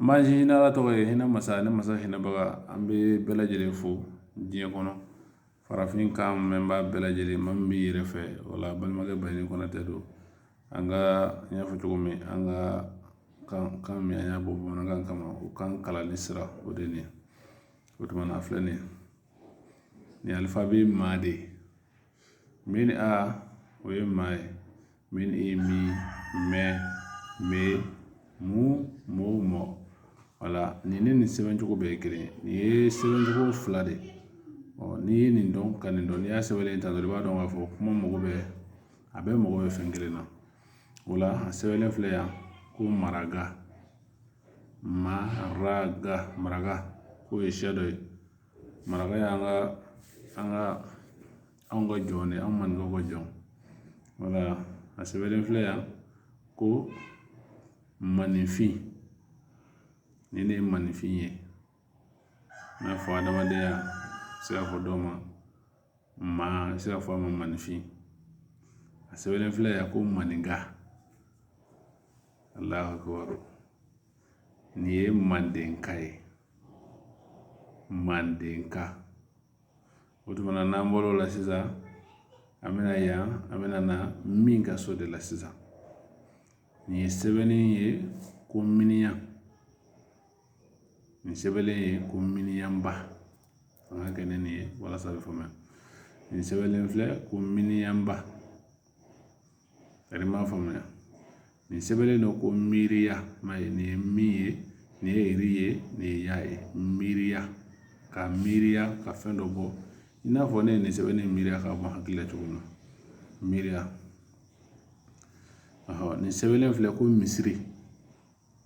Ma ni ala tɔgɔ ye hinɛ masa ni masa hinɛbaga an bɛ bɛɛ lajɛlen fo diɲɛ kɔnɔ farafinkan mɛnbaa bɛɛ lajɛlen ma min bɛ yɛrɛ fɛ wala balimakɛ ba ni konatɛ don an ka n y'a fɔ cogo min an ka kan ka mi y'a bɔ bamanankan kama u ka kalan ni sira o de ye o tuma filɛ nin ye nin alifabɛ ma de ye min a o ye ma ye min i mi me mɛ mu mo mɔ wala nin ni nin sɛbɛncogo bɛɛ ye kelen ye nin ye sɛbɛncogo fila de ye ɔ n'i ye nin dɔn ka nin dɔn n'i y'a sɛbɛn tan dɔrɔn i b'a dɔn k'a fɔ kuma mago bɛ a bɛɛ mago bɛ fɛn kelen na o la a sɛbɛnlen filɛ yan ko maraka maraka maraka k'o ye siya dɔ ye maraka y'an ka an ka anw ka jɔn de ye an maninka ka jɔn wala a sɛbɛnlen filɛ yan ko maninfin nin ne ye maninfin ye i n'a fɔ adamadenya i se ka fɔ dɔ ma maa i se ka fɔ a ma maninfin a sɛbɛnlen filɛ yan ko maninka alahakubaro Nin ye mandenka ye mandenka o tuma na n'an bɔr'o la sisan an bɛna yan an bɛna na mi ka so de la sisan nin ye sɛbɛnni ye ko miniyan nin sɛbɛnlen ye ko miniyanba an k'a kɛ ni nin ye walasa a bɛ faamuya nin sɛbɛnlen filɛ ko miniyanba A m'a faamuya nin sɛbɛnnen ye ko miiriya ma ye nin ye mi ye nin ye ri ye nin ye ya ye miiriya ka miiriya ka fɛn dɔ bɔ i n'a fɔ ne ye nin sɛbɛn in miiriya k'a bɔ hakili la cogo min na miiriya nin sɛbɛnlen filɛ ko misiri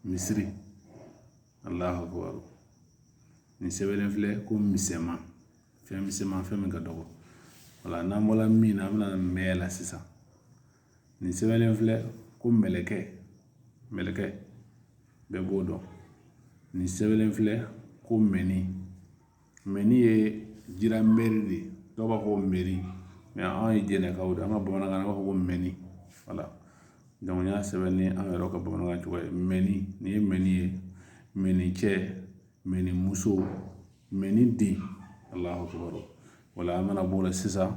misiri alahakubaru nin sɛbɛnlen filɛ ko misɛnman fɛn misɛnman fɛn min ka dɔgɔ wala n'an bɔla mi na an bɛna taa mɛ la sisan nin sɛbɛnlen filɛ ko mɛlɛkɛ mɛlɛkɛ bɛɛ b'o dɔn nin sɛbɛnlen filɛ ko mɛni mɛni ye ji ra mɛri de dɔw b'a fɔ mɛri mɛ anw ye jɛnɛkaw de an ka bamanankan na b'a fɔ ko mɛni wala n y'a sɛbɛn ni an yɛrɛ ka bamanankan cogo ye mɛni nin ye mɛni ye mɛni cɛ mɛni muso mɛni den alahakubaru wala an mana bɔ o la sisan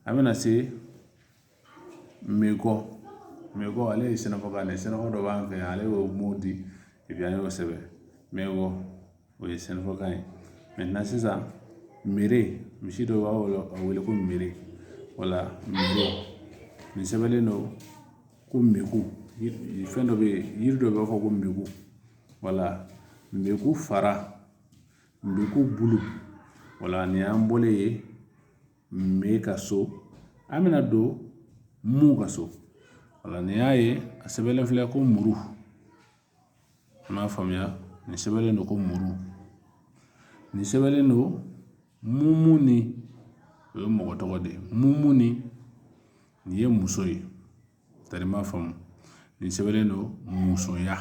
an bɛna se Mɛkɔ mɛkɔ ale ye sɛnɛfɔkan ye sɛnɛfɔ dɔ b'an fɛ yan ale y'o mun di an y'o sɛbɛn mɛkɔ o ye sɛnɛfɔkan ye mɛ na sisan miri misi dɔ b'a wele a wele ko miri wala nin sɛbɛnnen don ko mɛko fɛn dɔ bɛ yen yiri dɔ b'a fɔ ko npeku wala npeku fara npeku bulu wala nin y'an bɔlen ye me ka so an bɛna don mu ka so wala nin y'a ye a sɛbɛnlen filɛ ko muru an b'a faamuya nin sɛbɛnlen don ko muru nin sɛbɛnlen don mumuni o ye mɔgɔ tɔgɔ de ye mumuni nin ye muso ye tari ma faamu nin sɛbɛnlen don musoya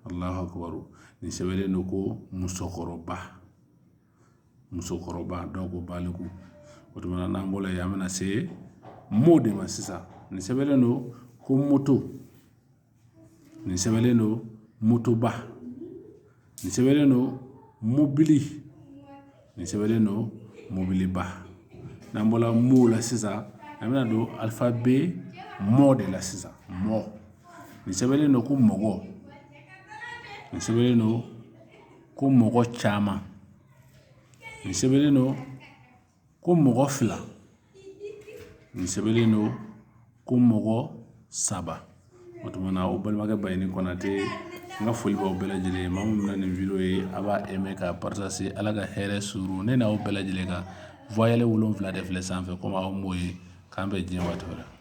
alahu akubaru nin sɛbɛnlen don ko musokɔrɔba musokɔrɔba dɔw ko baliku o tuma n'an bɔra yen an bɛna se mo de ma sisan nin sɛbɛnlen don ko moto nin sɛbɛnlen don motoba nin sɛbɛnlen don mobili nin sɛbɛnlen don mobiliba n'an bɔra mo la sisan an bɛna don alifabɛ mɔ de la sisan mɔ nin sɛbɛnlen don ko mɔgɔ nin sɛbɛnlen don ko mɔgɔ caman nin sɛbɛnlen don ko mɔgɔ fila nin sɛbɛnlen don ko mɔgɔ saba o tuma na aw balimakɛ bayini kɔnatɛ n ka foli b'aw bɛɛ lajɛlen ye maa min bɛ nin wideyo ye a b'a aimé ka partagé ala ka hɛrɛ suuru ne n'aw bɛɛ lajɛlen kan voyelle wolonwula de filɛ sanfɛ ko aw b'o ye k'an bɛn diɲɛ waati la